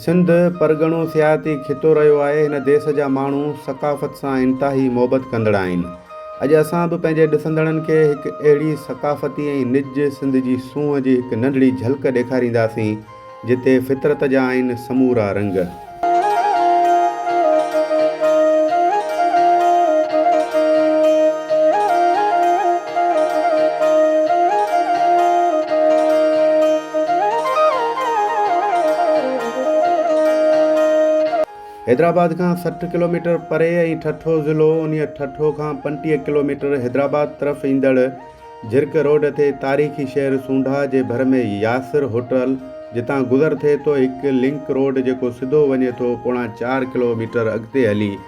سنڌ پرڳڻو سياحتي خطو رهيو آهي، هن ديس جا ماڻهو ثقافت سان انتهائي محبت ڪندڙ آهن. اڄ اسان به پنهنجي ڏسندڙن کي هڪ اهڙي ثقافتي ۽ نج سنڌ جي سونهن جي هڪ ننڍڙي جهلڪ ڏيکارينداسين، جتي فطرت جا آهن سمورا رنگ. حيدرآباد کان سٺ ڪلوميٽر پري ۽ ٺٽو ضلعو انهي ٺٽو کان پنٽيهه ڪلوميٽر حيدرآباد طرف ايندڙ جھرڪ روڊ تي تاريخي شهر سونڍا جي ڀر ۾ ياسر هوٽل جتان گذر ٿئي ٿو هڪ لنڪ روڊ جيڪو سڌو وڃي ٿو پوڻا چار ڪلوميٽر اڳتي هلي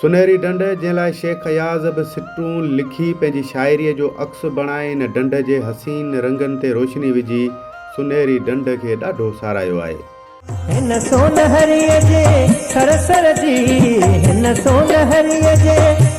سنهري ڍنڍ، جنهن لاء شيخ اياز به سٽون لکي پنهنجي شاعريء جو عڪس بڻائي ان ڍنڍ جي حسين رنگن تي روشني وجهي سنهري ڍنڍ کي ڏاڍو ساراهيو آهي. هن سونهريء جي سر سر جي، هن سونهريء جي.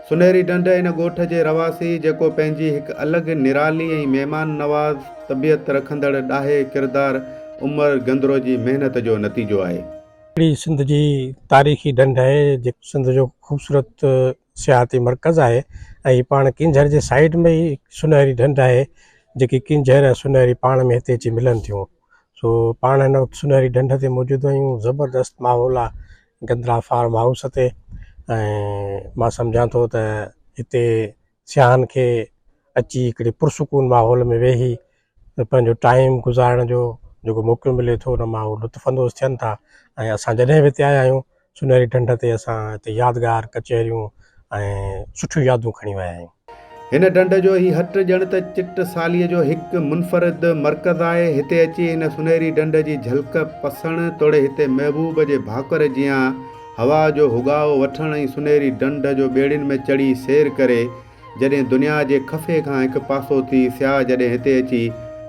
سنهري ڍنڍ ان ڳوٺ جي رهواسي جيڪو پنهنجي هڪ الڳ نرالي ۽ مهمان نواز طبيعت رکندڙ ڏاهي ڪردار عمر گندرو جي محنت جو نتيجو آهي. اهڙي سنڌ جي تاريخي ڍنڍ آهي جيڪو سنڌ جو خوبصورت سياحتي مرڪز آهي ۽ هي پاڻ ڪينجهر جي سائيڊ ۾ ئي سنهري ڍنڍ آهي جيڪي ڪينجهر ۽ سنهري پاڻ ۾ هتي اچي ملن ٿيون. سو پاڻ هن وقت سنهري ڍنڍ تي موجود آهيون زبردست ماحول آ گندرا فارم هائوس تي ۽ مان سمجهان ٿو ته هتي سياحن کي اچي هڪڙي پرسڪون ماحول ۾ ويهي پنهنجو ٽائيم گذارڻ جو جيڪو موقعو ملي ٿو ان مان هو لطف اندوز ٿين ٿا ۽ اسان جڏهن به هتي آيا آهيون سونهري ڍنڍ تي اسان هتي يادگار ڪچهريون ۽ سٺيون يادون کڻي ويا آهيون. هن ڍنڍ جو هي هٽ ڄڻ ته چٽ ساليء جو هڪ منفرد مرڪز آهي. هتي اچي هن سونهري ڍنڍ جي جهلڪ پسڻ توڙي هتي محبوب جي ڀاڪر جيان هوا جو هوڳائو وٺڻ ۽ سونهري ڍنڍ جو ٻيڙين ۾ چڙهي سير ڪري جڏهن دنيا جي خفي کان هڪ پاسو ٿي سياح جڏهن هتي اچي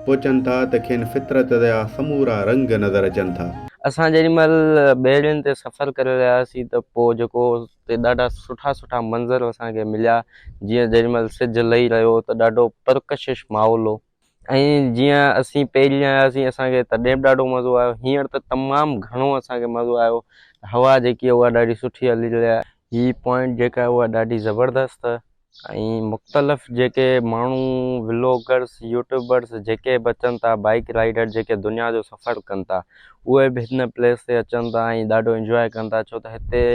پهچن ٿا ته کين فطرت جا سمورا رنگ نظر اچن ٿا. اسان جيڏي مهل ٻيڙين تي سفر ڪري رهيا هئاسين ته پوء جيڪو اتي ڏاڍا سٺا سٺا منظر اسان کي مليا جيئن جيڏي مهل سج لهي رهيو هو ته ڏاڍو پرڪشش ماحول هو ۽ جيئن اسين پهرين آيا هئاسين اسان کي تڏهن به ڏاڍو مزو آيو هينئر ته تمام گهڻو اسان کي مزو آيو هوا جيڪي آهي اها ڏاڍي سٺي هلي رهي آهي هي پوائنٽ جيڪا آهي اها ڏاڍي زبردست ۽ مختلف جيڪي ماڻهو ولاگرس يوٽيوبرس جيڪي به اچن ٿا بائيڪ رائيڊر جيڪي دنيا جو سفر ڪن ٿا اهي به هن پليس تي اچن ٿا ۽ ڏاڍو انجوائي ڪن ٿا ڇو ته هتي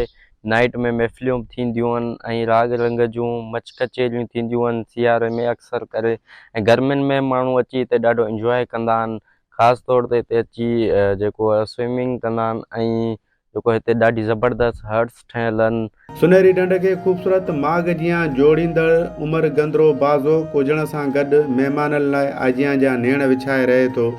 نائٽ ۾ محفليون به ٿينديون آهن ۽ راڳ رنگ جون مچ ڪچهريون ٿينديون آهن سياري ۾ اڪثر ڪري ۽ گرمين ۾ ماڻهو اچي هتي ڏاڍو انجواء ڪندا آهن خاص طور تي هتي اچي جيڪو آهي سوئمنگ ڪندا آهن ۽ جيڪو هتي ڏاڍي زبردست هٽس ٺهيل آهن. سنهري ڍنڍ کي خوبصورت ماڳ جيان جوڙيندڙ عمر گندرو بازوڪ هجڻ سان گڏ مهمانن لاء آجيان جا نيڻ وڇائي رهي ٿو.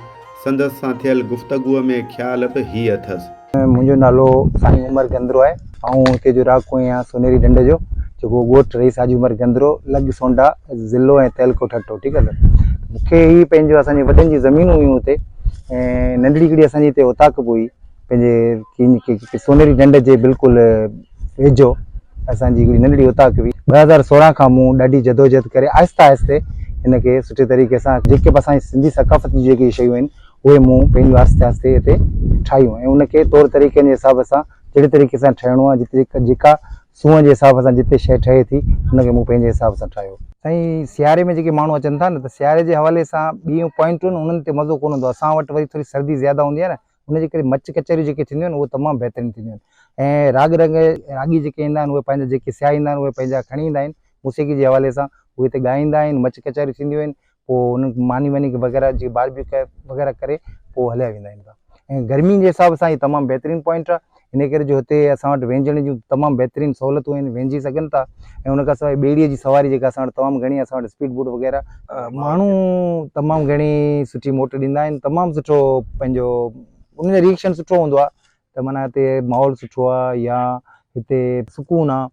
سندس سان ٿيل گفتگوء ۾ خيال به هي اٿس. منهنجو نالو سائين عمر گندرو آهي. آئون هتي جو رهاڪو آهيان سونهري ڍنڍ جو جيڪو ڳوٺ رئيس حاجي عمر گندرو لڳ سونڊا ضلعو ۽ تعلقو ٺٽو ٺيڪ آهي مون کي هي پنهنجو اسان جي وڏن جي زمينون هيون هتي ۽ ننڍڙي هڪڙي اسان جي هتي اوطاق به هئي پنهنجي سونهري ڍنڍ جي بلڪل ويجهو اسان جي هڪڙي ننڍڙي اوطاق هئي. ٻه هزار سورهن کان مون ڏاڍي جدوجهد ڪري آهستي آهستي هن کي سٺي طريقي سان جيڪي به اسان جي سنڌي ثقافت جون جيڪي شيون آهن اهي مون پنهنجون آهستي آهستي هتي ٺاهيون ۽ ان کي طور طريقن جي حساب سان جهڙي طريقي سان ٺهڻو آهي جتي جيڪا سونهن جي حساب سان جتي شيء ٺهي ٿي ان کي مون پنهنجي حساب سان ٺاهيو. سائين سياري ۾ جيڪي ماڻهو اچن ٿا نه ته سياري جي حوالي سان ٻيون پوائنٽون انهن تي مزو ڪونه هوندو اسان وٽ وري ٿوري سردي زياده هوندي آهي نه ان جي ڪري مچ ڪچهريون جيڪي ٿينديون آهن اهي تمام بهترين ٿينديون آهن ۽ راڳ رنگ راڳي جيڪي ايندا آهن اهي پنهنجا جيڪي سيائيندا آهن اهي پنهنجا کڻي ايندا آهن موسيقي جي حوالي سان اهي هتي ڳائيندا آهن مچ ڪچهريون ٿينديون آهن پوء ان ماني واني وغيره جي باربيڪيو وغيره ڪري پوء هليا ويندا آهن ۽ گرمين جي حساب سان هي تمام بهترين پوائنٽ آهي انهيء ڪري جو هتي اسان وٽ وهنجڻ جون تمام بهترين سهولتون آهن، وهنجي سگهن ٿا ۽ ان کان سواء ٻيڙيء جي سواري جيڪا اسان وٽ تمام گهڻي آهي، اسان وٽ اسپيڊ بوٽ وغيره، ماڻهو تمام گهڻي سٺي موٽ ڏيندا آهن، تمام سٺو پنهنجو انهن جو ريئڪشن سٺو هوندو آهي ته معنيٰ هتي ماحول سٺو آهي يا هتي سڪون آهي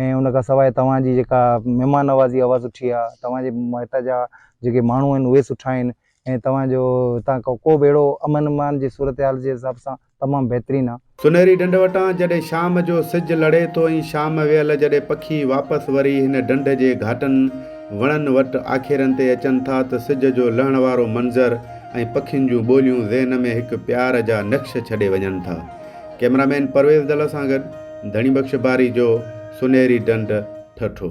۽ ان کان سواء توهان جي جيڪا مهمان نوازي اها سٺي آهي توهان جي هتان جا جيڪي ماڻهو آهن اهي سٺا آهن ۽ توهان جو هتان ڪو ڪو به اهڙو امن امان جي صورتحال جي حساب سان تمام بهترين آهي. سنهري ڍنڍ وٽان جڏهن شام جو سج لڙي ٿو ۽ شام ويل جڏهن پکي واپس وري هن ڍنڍ جي گهاٽن وڻن وٽ آکيرن تي اچن ٿا ته سج جو لهڻ وارو منظر ۽ پکين جون ٻوليون ذهن ۾ هڪ پيار جا نقش ڇڏي وڃن ٿا. ڪيمرا مين پرويز دل سان گڏ ڌڻي بخش باري جو سنهري ڍنڍ ٺٺو.